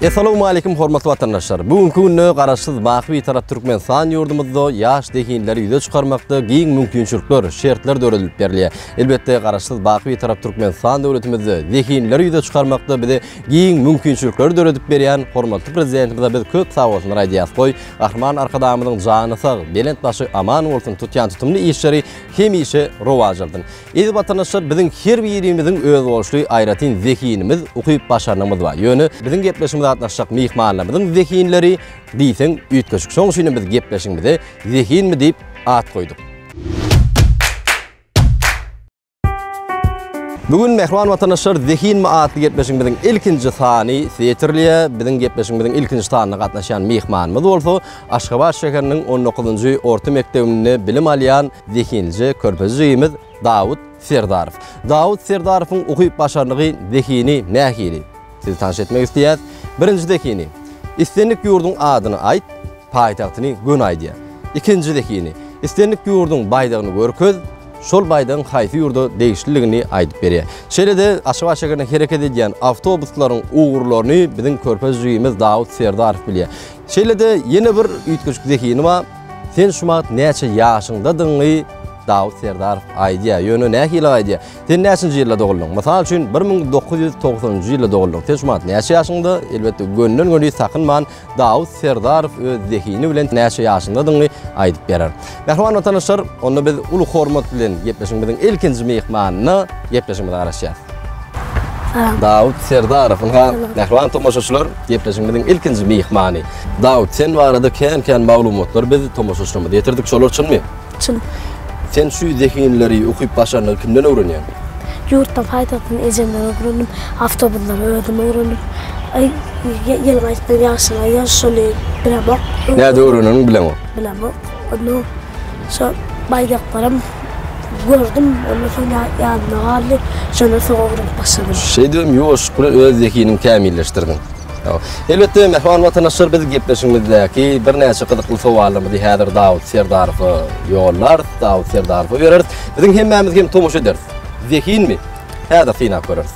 Essalamu aleykum hormatly watandaşlar. Bu günki günde garaşsyz baky bir tarap Türkmenistan ýurdumyzda ýaş zehinleri ýüze çykarmakda giň mümkinçilikler, şertler döredilip berilýär. Elbetde garaşsyz baky bir tarap Türkmenistan döwletimizde zehinleri ýüze çykarmakda bize Giň mümkinçilikleri döredip berýän hormatly Prezidentimize biz köp sagbolsunlar aýdýas. Goý, Gahryman Arkadagymyzyň jany sag, belent başy aman bolsun, tutýan tutumly işleri hemişe rowaç alsyn. Eziz watandaşlar, biziň her birimiziň özboluşly aýratyn zehinimiz, ukyp-başarnygymyz bar. Ýöne, biziň gepleşigimize gatnaşjak myhmanlarymyzyň zehinleri diýseň üýtgeşik. Şoň üçinem biz gepleşigimize Zehinmi diýip at goýduk. Bu gün mähriban watandaşlar Zehinmi atly gepleşigimiziň ilkinji sany ýetirilýär. Biziň gepleşigimiziň ilkinji sanyna gatnaşýan myhmanymyz bolsa Aşgabat şäheriniň on dokuzynjy orta mekdebinde bilim alýan zehinlije körpe jigimiz Dawut Serdarow. Dawut Serdarowyň ukyp-başarnygy, zehini nähili? Sizi tanş etmek isleýäs. Birinji zehini, Islendik ýurduň adyny aýt, paýtagtyny göni aýdýa. Ikinji zehini, Islendik ýurduň baýdagyny görkez, şol baýdagyň haýsy ýurda degişliligini aýdyp berýä. Şeýle-de Aşgabat şägerinde hereket edýän awtobuslaryň ugurlaryny biziň körpez jigimiz Dawut Serdarow bilýär. Şeýle-de ýene bir üýtgeşik zehini bar. Sen şu wagt näçe ýaşyňdadygyňy Dawut Serdarow aýdýa. Ýöne nähili aýdýa? Sen näçinji ýylda doguldyň? Mysal üçin, bir müň dokuz ýüz togsanynjy ýylda doguldyň. Sen şu wagt näçe ýaşyňda? Elbetde, gönden-göni sakynman, Dawut Serdarow öz zehini bilen näçe ýaşyndadygyňy aýdyp berer. Mähriban watandaşlar, onda biz uly hormat bilen gepleşigimiziň ilkinji myhmanyna gepleşigimize garaşýarys. Salam. Dawut Serdarow, ynha, mähriban tomaşaçylar, gepleşigimiziň ilkinji myhmany. Dawut, sen barada kän-kän maglumatlary biz tomaşaçylarymyza ýetirdik, şolar çynmy? Çyn. Sen şu zehinleri okyp başarnygy kimden öwrenýäň? Ýurtda paýtagtdan ejemden öwrendim. Awtobuslary özüm öwrendim. Aý, ýyly gaýtdym ýagşyna, ýa şuny bilemok. Näde öwreneniňi bilemok. Bilemok. Onda şo baýdaklaram gördüm, ondan soň ýa-ýadyma galdy. Şondan soň öwrenip başladym. Şeýdibem ýuwaşlyk bilen öz zehiniňi kämilleşdirdiň. Elbetde, mähriban watandaşlar, biz gepleşigimizdäki birnäçe gyzykly sowallarymyzy häzir Dawut Serdarowa ýollarys, Dawut Serdarowa bereris. Biziň hemmämiz hem tomaşa ederis. Zehinmi? Häzir synap göreris.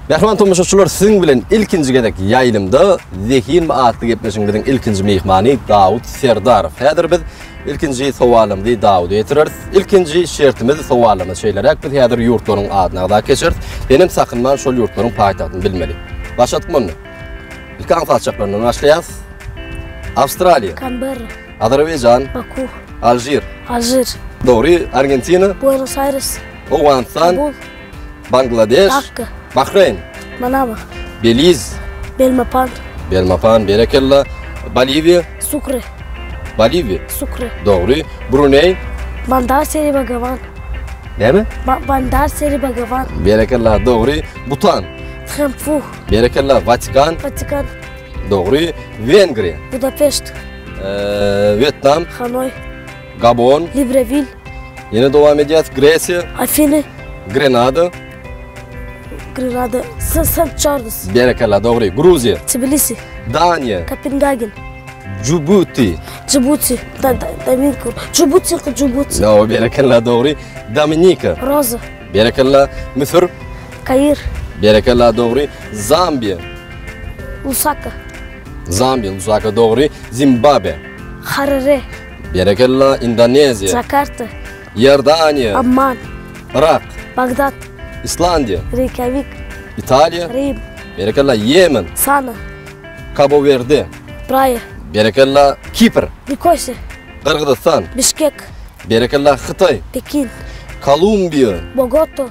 Mähriban tomaşaçylar, siziň bilen ilkinji gezek ýaýlymda Zehinmi atly gepleşigimiziň ilkinji myhmany Dawut Serdarow. Häzir biz Ilkinji sowalymyzy Dawuda ýetireris. Ilkinji şertimiz sowalymyz şeýleräk, biz häzir ýurtlaryň adyny agzap geçeris. Senem sakynman şol ýurtlaryň paýtagtyny bilmeli. Başladyk munny. Ilki aňsat saçaklaryndan başlaýas. Awstraliýa. Kanberra. Azerbaýjan. Baku. Alžir. Alžir. Dogry, Argentina. Buenos Aires. Owganystan. Kabul. Bangladeş. Dakka. Bahreýn. Manama. Beliz. Belmopan. Belmopan, berekella. Boliwiýa. Sukre. Boliwiýa. Sukre. Dogry. Bruneý. Bandar Seri Bagawan. Näme? Ba Bandar Seri Bagawan. Berekella, dogry. Butan. Thimphu. Berekella, Watikan. Watikan. Dogry. Wengriýa. Budapeşt. Eee, Wýetnam. Hanoý. Gabon. Librewil. Ýene dowam edýäs, Gresiýa. Afiny. Grenada. Grenada. Sant Çarlz. Berekella, dogry. Gruziýa. Tbilisi. Daniýa. Kopengagen. Jubuti. Jubuti. Dominika. Jubuti, Jubuti. No, berekella, dogry. Dominika. Roza. Berekella, Müsür. Kair. Berekella, dogry. Zambiýa. Lusaka. Zambiýa, Lusaka, dogry. Zimbabwe. Harare. Berekella Indoneziýa. Jakarta. Iordaniýa. Amman. Yrak. Bagdat. Islandiýa. Reýkýawik. Italiýa. Rim. Berekella Ýemen. Sana. Kabowerde. Praýa. Berekella Kipr. Nikosiýa. Gyrgyzystan. Bişkek. Berekella Hytaý. Pekin. Kolumbiýa. Bogoto.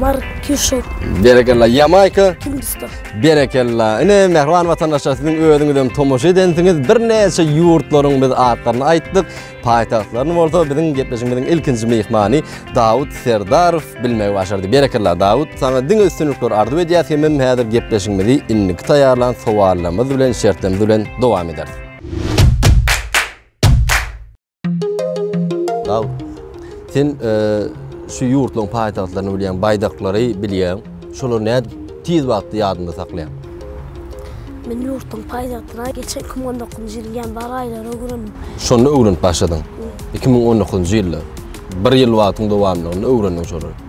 Markuşo. Berekella Ýamaýka. Hindistan. Berekella. Ine mähriban watandaşlar siziň özüňiz hem tomaşa edensiňiz. Birnäçe ýurtlaryň biz atlaryny aýtdyk. Paýtagtlaryny bolsa biziň gepleşigimiziň ilkinji myhmany Dawut Serdarow bilmegi başardy. Berekella Dawut. Saňa diňe üstünlikler arzuw edýäs. Hemem häzir gepleşigimizi indiki taýýarlan sowallarymyz bilen, şertlerimiz bilen dowam ederis. Dag, sen şu ýurtlaryň paýtagtlaryny bilýäň, baýdaklary bilýäň. Şolary nädip tiz wagtda ýadyňda saklaýaň? Men ýurtlaryň paýtagtyna geçen 2019-njy ýylyň ýanwar aýlarynda öwrendim. Şonda öwrenip başladyň? 2019-njy ýylda. Bir ýyl wagtyň dowamlygynda öwrendiň şolary.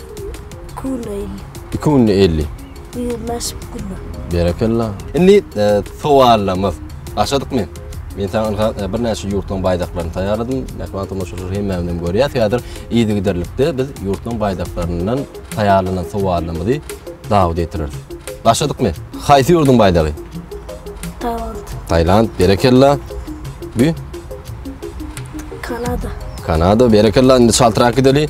Künde elli. Iki günde elli. Ýigrimi aşyp günde. Berekella. Indi e, sowallarymyz. Başladykmy? Men sana ynha e, birnäçe ýurtlaryň baýdaklaryny taýýarladym. Mähriban tomaşaçylar hemmäni hem görýär. Häzir yzygiderlikde biz ýurtlaryň baýdaklaryndan taýýarlanan sowallarymyzy dawa getireris. Başladykmy? Haýsy ýurduň baýdagy? Tailand. Tailand, berekella. Bu Kanada. Kanada, berekella. Indi çaltrak gideli.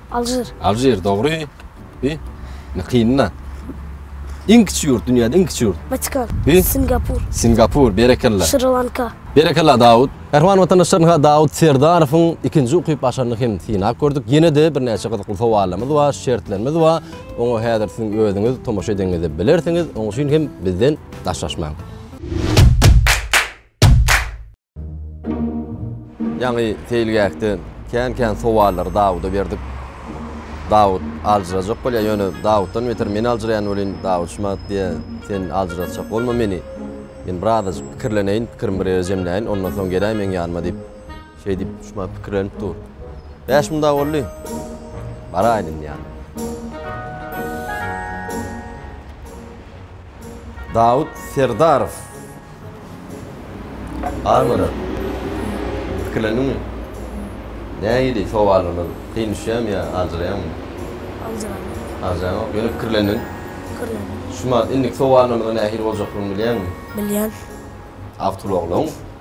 Alžir. Alžir dogry. Bi. Ne kynna. Iň kiçi ýurt, dünýäde iň kiçi ýurt. Vatikan. Bi. Singapur. Singapur, berekella. Şri Lanka. Berekella Dawut. Mähriban watandaşlar ynha Dawut Serdarowyň ikinji ukyp açanyny hem synap gördük. Ýene-de birnäçe gyzykly sowallarymyz bar, şertlerimiz bar. Oňa häzir siziň özüňiz tomaşa edenňizde bilersiňiz. Oň üçin hem bizden daşlaşmaň. Ýaňy seýilgähde kän-kän sowallary Dawuda berdik. Dawut aljyrajak bolýar, ýöne Dawutdan beter men aljyraýan welin, Dawut şumat diýýär, Sen aljyratjak bolma meni. Men birazajyk pikirleneýin, pikirimi bir ýere jemläýin, ondan soň geläý meň ýanyma diýip, şeý diýip, şumat pikirlenip dur. Bäş munda boldy. Baraýyn indi ýanyna. Dawut Serdarow Armyda pikirlendiňmi? Nähili sowallardan kyn düşýämi ýa aljyraýaňmy? Aljyraýan. Aljyraýanok, ýöne pikirlendiň? Pikirlendim. Şumat, indiki sowallarymyzyň nähili boljakdygyny bilýäňmi? Bilýän. Awtoulaglaryň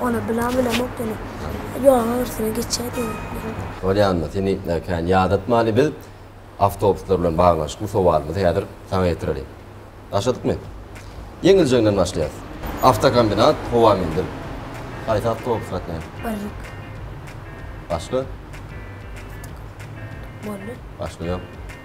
Ony bilen bilemok ýöne ýoluň agyrsyna geçýär diýýärler. Bolýanmy sen nitmä kän ýadatmaly biz awtobuslar bilen baglanyşykly sowalymyzy häzir saňa ýetireliň. Başladykmy? Ýeňiljeginden başlaýas. Awtokombinat, howa menzil. Haýsy awtobus gatnaýar? Birlik. Başga? Boldy. Başga ýok.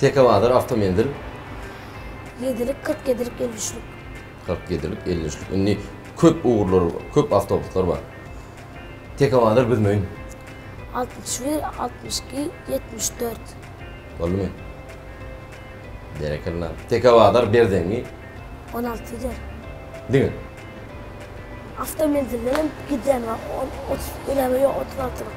Tekobazar awtomenzil. Ýedilik, kyrk ýedilik, elli üçlik. Kyrk ýedilik, elli üçlik. Indi köp ugurlar, köp awtobuslar bar. Tekobazar Büzmeýin. Altmyş bir, altmyş iki, ýetmiş dört. Boldumy? Berekella. Tekobazar Berzeňňi. On alty gider. Diňe. Awtomenzilden hem gidýän bar. On, otuz, ýöne ýok, otuz altylyk.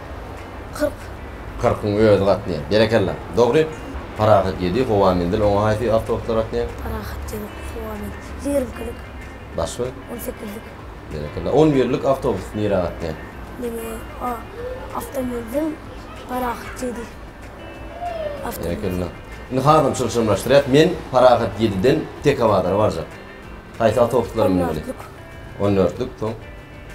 Kyrk. Kyrkyň özi gatnaýar. Berekella. Dogry. Parahat ýedi. Howa menzil. Oňa haýsy awtobuslar gatnaýar? Parahat ýedi. Howa menzil. Ýigrimkilik. Başga? On sekizlik. Berekella. On birlik awtobus nirä gatnaýar? Neme? A. Awtomenzil. Parahat ýedi. Awtomenzil. Berekella. Indi hazam çylşyrymlaşdyrýas. Men Parahat ýediden Tekabazara barjak. Haýsy awtobuslara münmeli? On dörtlük. On dörtlük. Soň?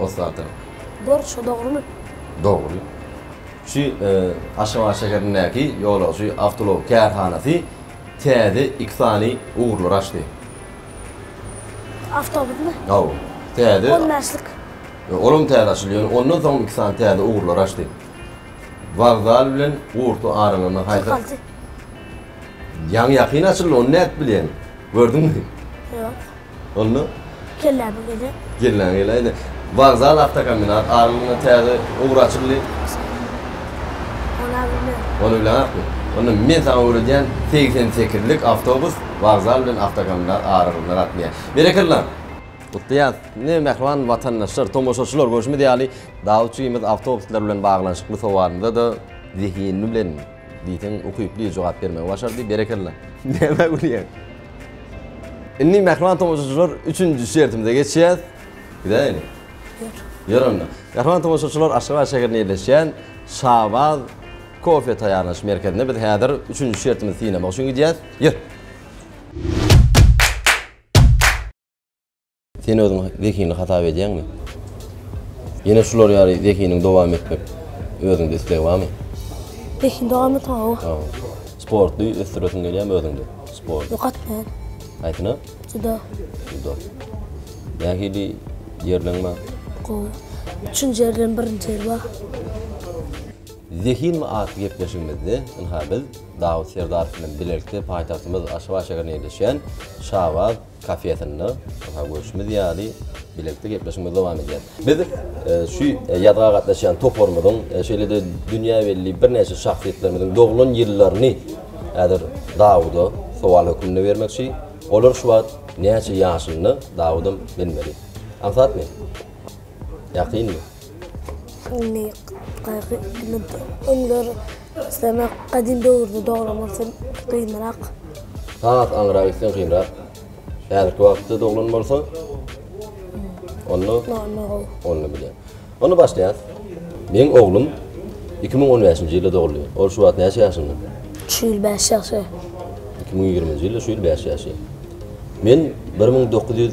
Osata. Dor şu dogrymy. Dogry. Şu Aşgabat şäherindäki ýolagçy awtoulag kärhanasy täze iki sany ugurlary açdy. Awtobusmy? Hawa. Täze. On bäşlik. Olam täze açyldy. Ondan soň iki sany täze ugurlary açdy. Wokzal bilen Gurty aralygynda haýsy. Kyrkalty. Ýaňy ýakyn açyldy, ony nädip bilýäň? Gördüňmi? Ýok. Onda? Kelläme gezek. Kelläňe geleýde. Wokzal awtokombinat aralygynda täze ugur açyldy. Ol-a bilen. Ony bileňakmy? Onda men saňa öwredýän segsen sekizlik awtobus wokzal bilen awtokombinat aralygynda gatnaýar. Berekella! Gutlaýas! Ine, mähriban watandaşlar, tomaşaçylar, görşümiz ýaly, Dawutjygymyz awtobuslar bilen baglanyşykly sowalynda-da zehinli bilen, Diýseň ukyply jogap bermegi başardy. Berekella. Nämä gülýäň? Indi mähriban tomaşaçylar üçünji şertimize geçýäs. Gidäýeli. Ýör. Ýör onda. Mähriban tomaşaçylar Aşgabat şäherinde ýerleşýän Şabaz kofe taýýarlanyş merkezine biz häzir üçünji şertimizi synamak üçin gidýäs. Ýör. Sen özüňi zehinli hasap edýäňmi? Ýene şular ýaly zehiniň dowam etmek özüňde isleg barmy? Zehin dowam etmek hawa. Hawa. Sporty ösdüresiň gelýärmi özüňde? Sport. Ýok atman. Haýsyna? Judo. Judo. Nähili ýerleň bar? Gowy. Üçünji ýer bilen birinji ýer bar. Zehinmi atly gepleşigimizde ynha biz Dawut Serdarow bilen bilelikde paýtagtymyz Aşgabat şäherinde ýerleşýän Şabaz kafesinde ynha görşümiz ýaly bilelikde gepleşigimiz dowam edýär. Biz şu ýazga gatnaşýan toparymyzyň şeýle-de dünýä belli birnäçe şahsyýetlerimiziň doglan ýyllaryny häzir Dawuda sowal hökmünde bermekçi. Olar şu wagt näçe ýaşynda? Dawudam bilmeli. Aňsatmy? Ýakynmy? Indi gaýgy indi öňler islemek gadymy döwürde doglan bolsa gynrak. Has aňyraga gitseň gynrak. Häzirki wagtda doglan bolsa onda onda gowy. Onda bile. Onda başlaýas. Meň oglum 2015-nji ýylda doguldy. Ol şu wagt näçe ýaşynda? Şu ýyl 5 ýaşy. 2020-nji ýylda şu ýyl 5 ýaşy. Men 1900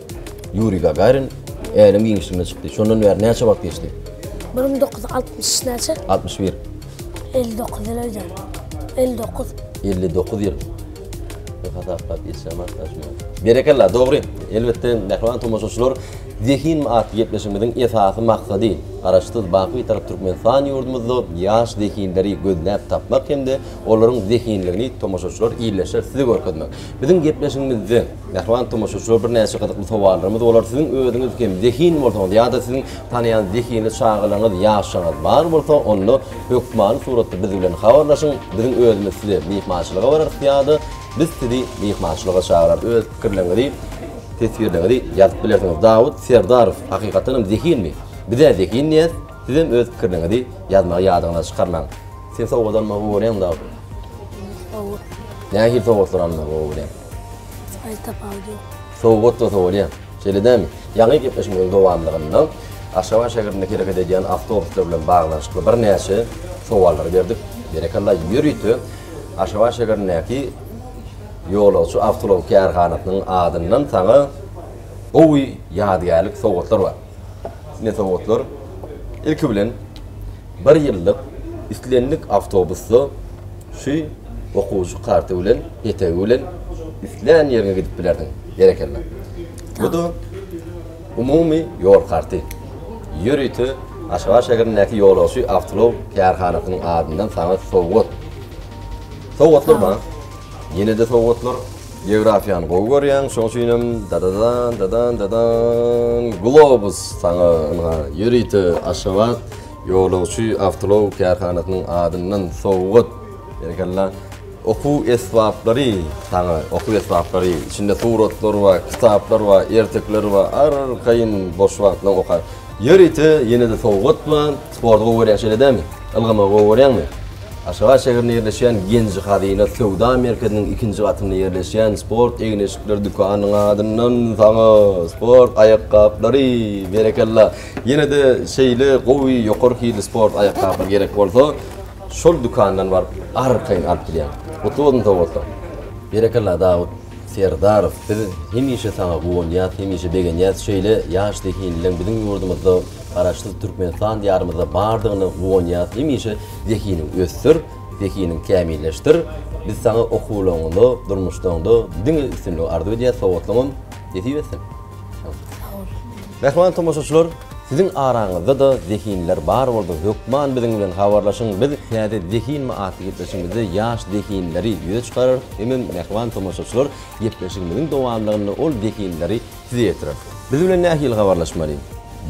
Ýuriý Gagarin Äleň giňişligine çykdy. Şondan bäri näçe wagt geçdi? Bir müň dokuz ýüz altmyş näçe? Altmyş bir. Elli dokuz ýyl öýdýän. Elli dokuz. Elli dokuz ýyl. Bir hasaplap geçýäm arkadaşlar. Berekella, dogry. Elbetde, mähriban tomaşaçylar, Zehin atly gepleşigimiziň esasy maksady, Garaşsyz, baky Bitarap Türkmenistan ýurdumyzda ýaş zehinleri gözläp tapmak hem-de olaryň zehinligini tomaşaçylar, ildeşler size görkezmek. Biziň gepleşigimizde. Mähriban tomaşaçylar birnäçe gyzykly sowallarymyz bolar. Siziň özüňiz hem zehin bolsaňyz ýa-da siziň tanaýan zehinli çagalaryňyz, ýaşlaryňyz bar bolsa, onda hökmany suratda biz bilen habarlaşyň. Biziň özümiz size myhmançylyga bararys ýa-da biz sizi myhmançylyga çagyrarys. Öz pikirleriňizi, teswirleriňizi ýazyp bilersiňiz. Dawut Serdarow, Hakykatdan hem zehinmi? Biz-ä zehin diýýäs. Sizem öz pikirleriňizi ýazmagy ýadyňyzdan çykarmaň. Sen sowgat almagy gowy görýäňmi Dawut? Gowy. Nähili sowgatlary almagy gowy görýäň? Aýl tapawudy ýok. Sowgat bolsa bolýar. Şeýle dälmi? Ýaňy gepleşmemiziň dowamlygynda Aşgabat şäherinde hereket edýän awtobuslar bilen baglanyşykly birnäçe sowallary berdik. Berekella, ýörite Aşgabat şäherindäki Ýolagçy awtoulag kärhanasynyň adyndan saňa gowy ýadygärlik sowgatlar bar. Ne sowgatlar? Ilki bilen, Bir ýyllyk islendik awtobusda şu okuwçy karty bilen, petegi bilen islän ýeriňe gidip bilersiň. Berekella. Bu-da umumy ýol karty. Ýörite Aşgabat şäherindäki ýolagçy awtoulag kärhanasynyň adyndan saňa sowgat. Sowgatlar bar. Ýene-de sowgatlar. Geografiýany gowy görýäň, şoň üçinem dadadan, dadan, dadan, globus saňa ynha, ýörite Aşgabat ýolagçy awtoulag kärhanasynyň adyndan sowgat, berekella, okuw esbaplary saňa, okuw esbaplary, içinde suratlar bar, kitaplar bar, ertekiler bar, arkaýyn boş wagtlaryňda oka, ýörite ýene-de sowgat bar. Sporty gowy görýäň şeýle dämi? Ylgamagy gowy görýäňmi? Aşgabat şäherinde ýerleşýän Genji Hazyna söwda merkeziniň ikinji gatynda ýerleşýän sport egin-eşikler dükanynyň adyndan saňa sport aýakgaplary! Berekella! Ýene-de şeýle gowy, ýokary hilli sport aýakgaplary gerek bolsa, şol dükandan baryp arkaýyn alyp bilýäň. Gutly bolsun sowgatlar! Berekella Dawut! Serdarow biz hemişe saňa guwanýas hemişe begenýäs şeýle ýaş zehinlileň biziň ýurdumyzda garaşsyz Türkmenistan diýarymyzda bardygyna guwanýas hemişe zehiniň össür zehiniň kämilleşdir biz saňa okuwlaňňda durmuşdaňda diňe üstünligi arzuw edýäs sowatlyňam nesip etsin. Mähriban tomaşaçylar, siziň araňyzda-da zehinler bar bolsa, hökman biziň bilen habarlaşyň. Biz Täze zehinmi atly gepleşigimizde ýaş zehinleri ýüze çykararys, hemem mähriban tomaşaçylar gepleşigimiziň dowamlygynda ol zehinleri size ýetirer. Biz bilen nähili habarlaşmaly?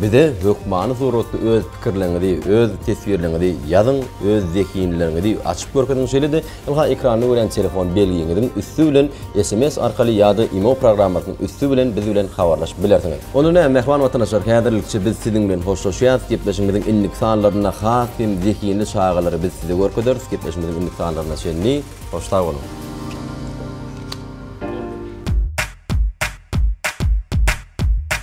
Bize hökmany suratda öz pikirleriňizi, öz teswirleriňizi ýazyň, öz zehinleriňizi açyp görkeziň, şeýle-de Ylha ekranyny görýän telefon belgiňiziň üsti bilen sms arkaly ýa-da imo programmasynyň üsti bilen biz bilen habarlaşyp bilersiňiz. Onda näme, mähriban watanaşlar, häzirlikçe biz siziň bilen hoşlaşýarys, gepleşigimiziň indiki sanlarynda has hem zehinli çagalary biz size görkezeris, gepleşigimiziň indiki sanlaryna çenli hoş sag boluň!